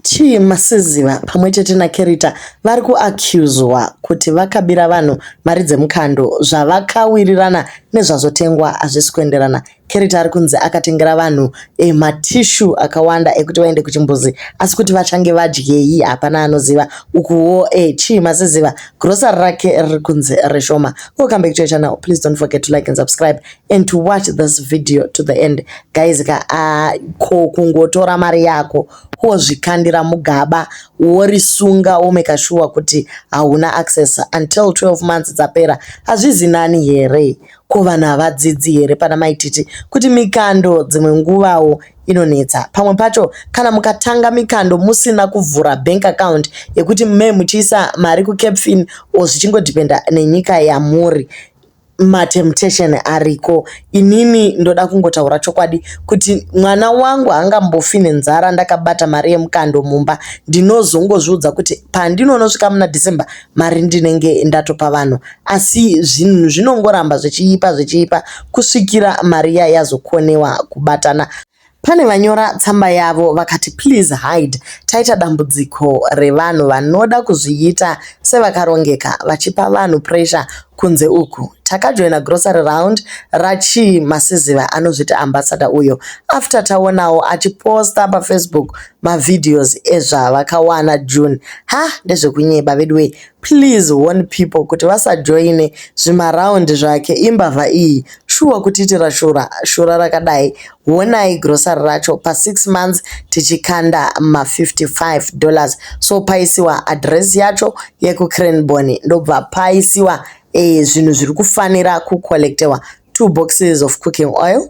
Chii Masiziva pamwe chete naKerita vari kuaccuswa kuti vakabira vanhu mari dzemukando zvavakawirirana nezvazotengwa hazvisi kuenderana. Kerita ari kunzi akatengera vanhu eh, matissue akawanda ekuti vaende kuchimbuzi asi kuti vachange vadyei hapana anoziva. Ukuwo eh, chii Masiziva grocery rake riri kunzi reshoma. Welcome back to your channel. Please don't forget to like and subscribe and to watch this video to the end guys ka uh, ko kungotora mari yako wozvikandira mugaba worisunga womeka shuwa kuti hauna access until 12 months dzapera hazvizi nani here ko vanhu havadzidzi here pana maititi kuti mikando dzimwe nguvawo inonetsa pamwe pacho kana mukatanga mikando musina kuvhura bank account yekuti me muchiisa mari kucapfin o zvichingodhipenda nenyika yamuri matemptation ariko inini ndoda kungotaura chokwadi kuti mwana wangu haangambofi nenzara ndakabata mari yemukando mumba ndinozongozviudza kuti pandinonosvika muna december mari ndinenge ndatopa vanhu asi zvinhu zvinongoramba zvichiipa zvichiipa kusvikira mari iya yazokonewa kubatana Pane vanyora tsamba yavo vakati please hide taita dambudziko revanhu vanoda kuzviita sevakarongeka vachipa vanhu pressure kunze uku. Takajoina grocery round raChii Masiziva anozviti ambassador uyo after taonawo achiposta paFacebook mavideos ezvavakawana June. Hah ndezvekunyeba veduwee Please warn people kuti vasajoine zvimaround zvake imbavha iyi shuwa kutiitira shura shura rakadai honai grocery racho pa 6 months tichikanda ma 55 dollars so paisiwa address yacho yekucranbony ndobva paisiwa eh, zvinhu zviri kufanira kucollectewa two boxes of cooking oil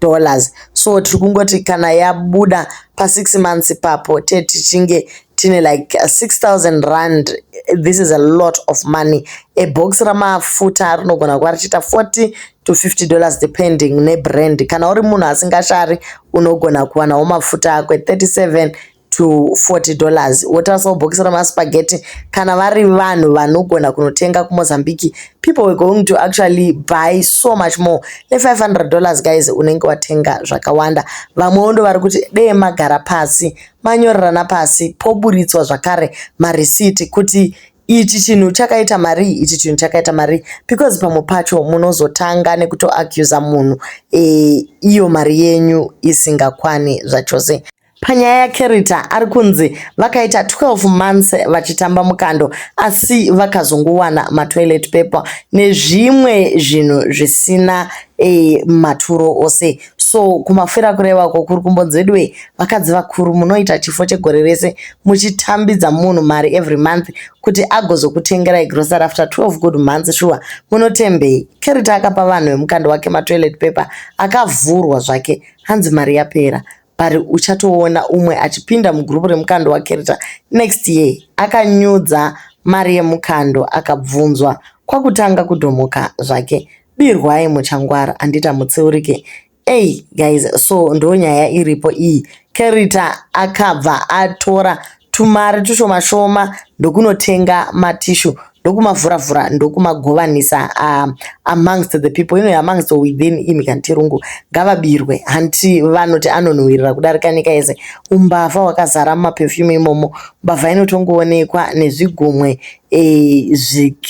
dollars so tiri kungoti kana yabuda pa six months ipapo te tichinge tine like 6000 rand this is a lot of money a box ramafuta rinogona kuva richiita 40 to 50 dollars depending nebrand kana uri munhu asingashari unogona kuwanawo mafuta akwe 37 to 40 dollars wotarisao bhokisi remaspaghetti kana vari vanhu vanogona kunotenga kumozambique people were going to actually buy so much more ne500 dollars guys unenge watenga zvakawanda vamwewo ndo vari kuti dee magara pasi manyorerana pasi poburitswa zvakare marisiti kuti ichi chinhu chakaita marii ichi chinhu chakaita marii because pamwe pacho munozotanga nekutoacusa munhu e, iyo mari yenyu isingakwane zvachose Panyaya yaCherita ari kunzi vakaita 12 months vachitamba mukando asi vakazongowana matoilet paper nezvimwe zvinhu zvisina e, maturo ose so kumafira kureva uko kuri kumbonzi veduwe vakadzi vakuru munoita chifo chegore rese muchitambidza munhu mari every month kuti agozokutengerai grocery after 12 good months shuwa munotembei Cherita akapa vanhu vemukando wake matoilet paper akavhurwa zvake hanzi mari yapera but uchatoona umwe achipinda mugroup remukando wakereta next year akanyudza mari yemukando akabvunzwa kwakutanga kudhomoka zvake birwai muchangwara handita mutsiurike ei guys so ndonyaya iripo iyi kerita akabva atora tumari tushoma shoma ndokunotenga matissue ndokumavhura vhura ndokumagovanisa uh, amongst the people ino amongst or within imi kana tirungu ngavabirwe hanti vanoti anonhuwirira kudarika nyika yese umbavha wakazara mumaperfume imomo mbavha inotongoonekwa nezvigumwe eh,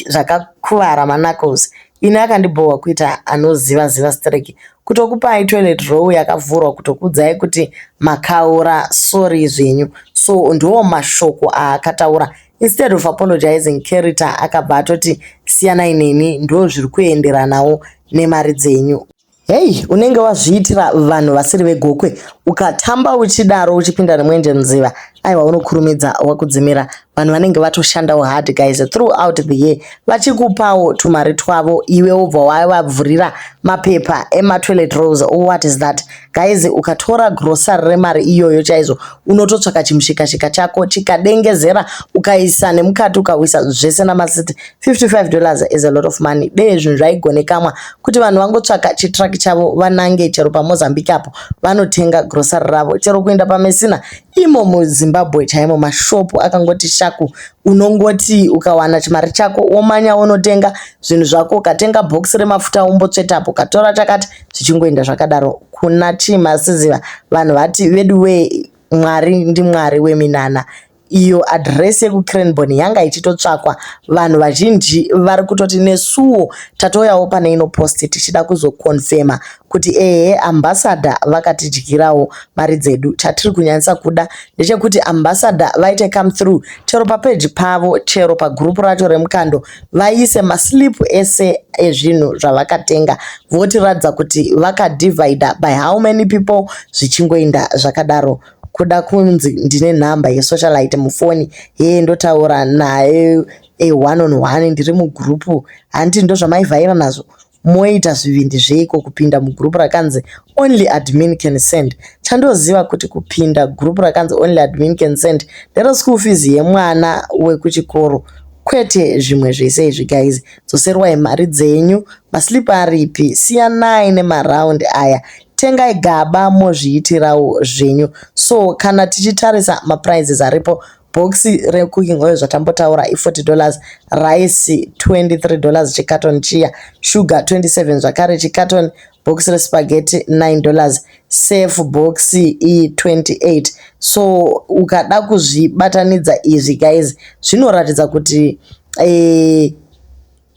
zvakakuvara manacles ini akandibhohwa kuita anoziva ziva streki kutokupai toilet roll yakavhurwa kutokuudzai kuti makaura sorry zvenyu so ndiwo mashoko aakataura instead of apologizing carita akabva atoti siyanai neni ndo zviri kuenderanawo nemari dzenyu hei unenge wazviitira vanhu vasiri vegokwe ukatamba uchidaro uchipinda nemwenje nziva aiwa unokurumidza wakudzimira vanhu vanenge vatoshandawo hard guys throughout the year vachikupawo tumari twavo iwe wobva wavavhurira mapepa ematoilet rose what is that guys ukatora grocery remari iyoyo chaizvo unototsvaka chimushikashika chako chikadengezera ukaisa nemukati ukawisa zvese namasiti 55 dollars is a lot of money dee zvinhu zvaigonekamwa kuti vanhu vangotsvaka chitruck chavo vanange chero pamozambique apo vanotenga grocery ravo chero kuenda pamesina imo muzimbabwe chaimo mashopu akangoti shaku unongoti ukawana chimari chako womanya wonotenga zvinhu zvako ukatenga bhokisi remafuta wombotsvetapo ukatora chakati zvichingoenda zvakadaro kuna chimasiziva vanhu vati vedu wee mwari ndimwari weminana iyo adhiresi yekucranbon yanga ichitotsvakwa vanhu vazhinji vari kutoti nesuwo tatouyawo pane ino post tichida kuzokonfema kuti ehe ambassador vakatidyirawo mari dzedu chatiri kunyanyisa kuda ndechekuti ambassador vaite come through chero papeji pavo chero pagroup racho remukando vaise maslip ese ezvinhu zvavakatenga votiratidza kuti vakadivider by how many people zvichingoinda zvakadaro kuda kunzi ndine nhamba yesocialite mufoni hee ndotaura naye e one on one ndiri mugroup hanti ndozvamaivhaira nazvo Moita zvivindi zveiko kupinda mugroup rakanzi only admin can send. Chandoziva kuti kupinda group rakanzi only admin can send ndere school fees yemwana wekuchikoro kwete zvimwe zvese izvi guys. Dzoserwai mari dzenyu, maslip aripi? Siyanai nemaround aya tengai gaba mozviitirawo zvenyu. So kana tichitarisa maprizes aripo Bhokisi recooking oil zvatambotaura i40 dollars, rice 23 dollars chicarton chiya, sugar 27 zvakare chicarton, bhokisi respaghetti 9 dollars, surf bhokisi iyi 28. So ukada kuzvibatanidza izvi guys zvinoratidza kuti eh,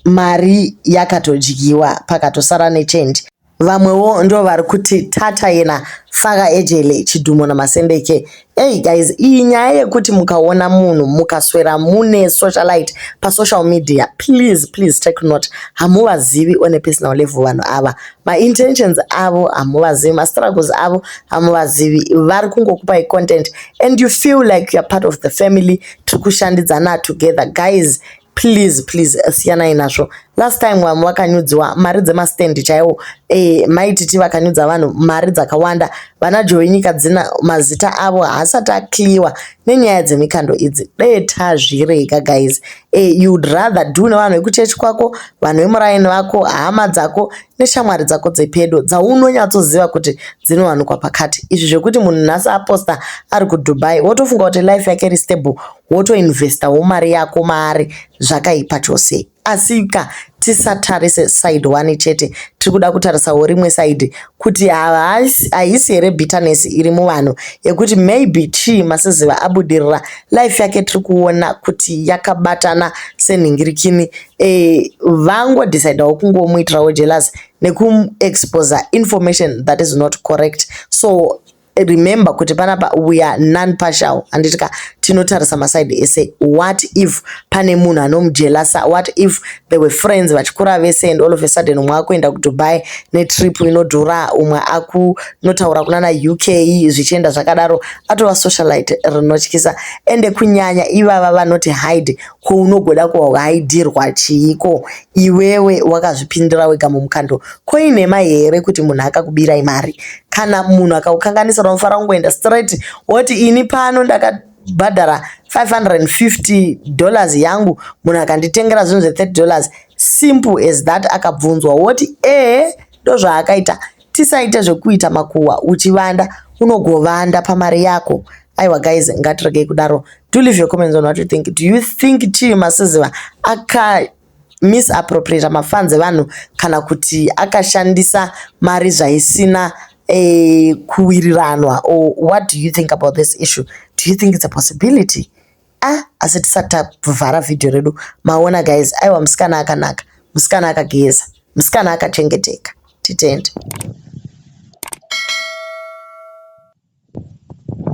mari yakatodyiwa pakatosara nechange. Vamwewo ndo vari kuti tata yena faka ejele chidhumo namasendeke. Hey guys iyi nyaya yekuti mukaona munhu mukaswera mune socialite pa social media please please take note hamuvazivi on a personal level vanhu ava ma intentions avo hamuvazivi ma struggles avo hamuvazivi vari kungokupai content and you feel like you're part of the family tiri kushandidzana together guys please please eh, siyanai nazvo last time vamwe vakanyudziwa mari dzemastand chaiwo eh, maititi vakanyudza vanhu mari dzakawanda vana joe nyika dzina mazita avo haasati akliwa nenyaya dzemikando idzi dee tazvirega guys eh, youd rather do nevanhu vekuchechi kwako vanhu vemuraini vako hama dzako neshamwari dzako dzepedo dzaunonyatsoziva kuti dzinowanikwa pakati izvi zvekuti munhu nhasi aposta ari kudubai wotofunga kuti life yake iri stable wotoinvestawo mari yako maari zvakaipa chose asika tisatarise side one chete tiri kuda kutarisawo rimwe side kuti haisi here bitterness iri muvanhu yekuti maybe chii masiziva abudirira life yake tiri kuona kuti yakabatana senhingirikini e, vangodecidawo kungomuitirawo jealous nekuexposa information that is not correct so remember kuti panapa we are non partial handiti ka tinotarisa maside ese what if pane munhu anomujelasa what if they were friends vachikura vese and all of a sudden umwe akuenda kudubai netrip inodhura umwe akunotaura kunana uk zvichienda zvakadaro atova socialite rinotyisa ende kunyanya ivava vanoti hide kwounogoda kuhaidirwa chiiko iwewe wakazvipindira wega mumukando koinema here kuti munhu akakubirai mari kana munhu akaukanganisa unofanira kungoenda straight woti ini pano ndaka bhadhara 550 dollars yangu munhu akanditengera zvinhu zve30 dollars simple as that akabvunzwa woti ee ndozvaakaita tisaite zvekuita makuhwa uchivanda unogovanda pamari yako aiwa guys ngatiregei kudaro do leave your comments on what you think do you think chii masiziva aka misappropriater mafans evanhu kana kuti akashandisa mari zvaisina eh, kuwiriranwa or what do you think about this issue do you think it's a possibility ah asi tisati tavhara vhidhiyo redu maona guys aiwa musikana akanaka musikana akageza musikana akachengeteka titende